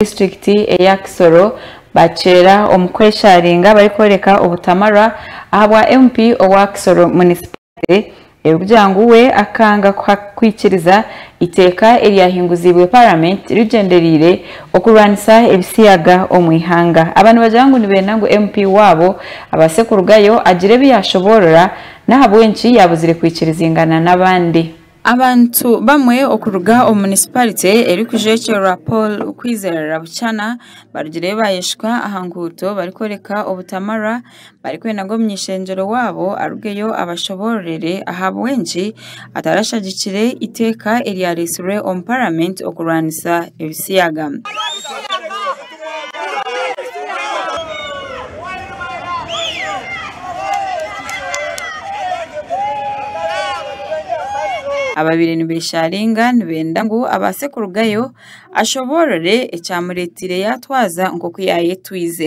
disiturikiti eya Kisoro baakyeera omu kwesharinga barikworeka obutamarwa ahabwa MP owa Kisoro munisipaarite erikugira ngu we akanga kwikiriza eiteeka eryahinguziibwe paramenti rigyendereire okurwanisa ebisiyaga omu ihanga. Aba nibagira ngu nibeenda ngu MP waabo abaase kurugayo agire ebi yaashoboorora n'ahabw'enki yaabuzire kwikiriziingana n'abandi. Abantu bamwe okuruga omu munisiparite erikujwekyerwa Paul Kwizera Buchana barugireyo baayeshuka aha nguuto barikworeka obutamarwa barikwenda ngu omuny'ishengyero waabo arugeyo abashoboororere ahabw'enki atarashagikire eiteeka eryareetsirwe omu paramenti okurwanisa ebisiyaga. Abaabaire nibeesharinga nibenda ngu abaase kurugayo ashoboorore ekyamureeteire yaatwaza nk'oku yaayetwize.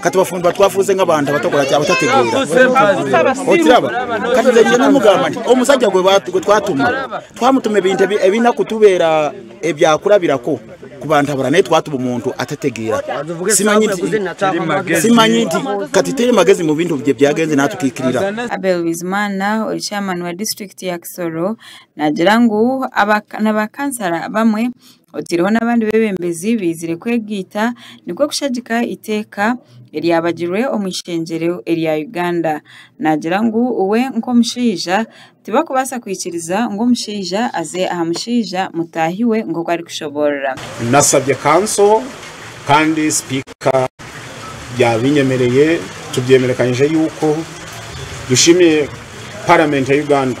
katubafumbirwa twafuuze nk'abantu abatakora ki abatategeera okiraba kati nze nje nimugamba nti omusajja gwe ba- gwe twatuma twamutuma ebintu ebi- ebirina kutubeera ebyakurabirako ku bantu abara naye twatuma omuntu atategeera simanyi nti simanyi nti kati teri magezi mu bintu bye byagenze natwe twikirira Abel Bizimana ori chairman wa district ya Kisoro nagira ngu aba na ba kansara bamwe otiireho n'abandi beebembezi baizire kwegaita nikwo kushagika eiteeka eryabagirwe omu ishengyero erya Uganda. Naagira ngu we nk'omushaija tibarikubaasa kwikiriza ngu omushaija aze aha mushaija mutaahi we nk'oku arikushoboorora. Nashabye kanso kandi sipiika yaabinyemereye, tubyemerekanyije yuko dushemye paramenti ya Uganda.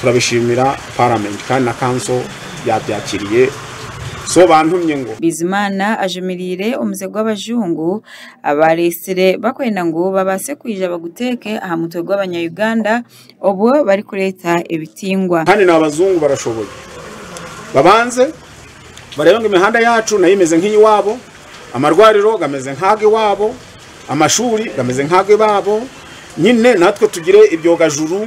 turabishiimira paramenti kandi na kanso yaabyakiriire so baantumye ngu Bizimana ajumirire omuze gw'abajungu abaareetsire bakwenda ngu babaase kwija baguteeke aha mutwe gw'abanyayuganda obwo barikureeta ebitingwa. Kandi n'abazungu barashoboye. Babanze bareebe ngu emihanda yaacu nayo emeze nk'eyi waabo, amarwariro gameze nk'age waabo, amashuuri gameze nk'age baabo, nyine natwe tugire ebyogajuru.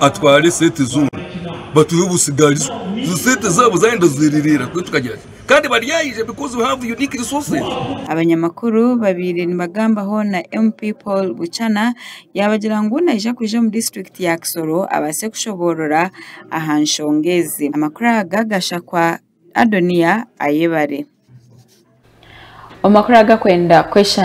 atwara esente zoona batuhe obusigarizo ezo sente zaabo zayenda ziririira kwe tukagira ki kandi baryaija because we have unique resources. Abanyamakuru babaire nibagambaho na MP Paul Buchana yaabagira ngu naija kwija omu disiturikiti ya Kisoro abaase kushoboorora aha nshonga ezi. Amakuru aga gashakwa Adoniya Ayebare. Omu makuru agakwenda kwesha.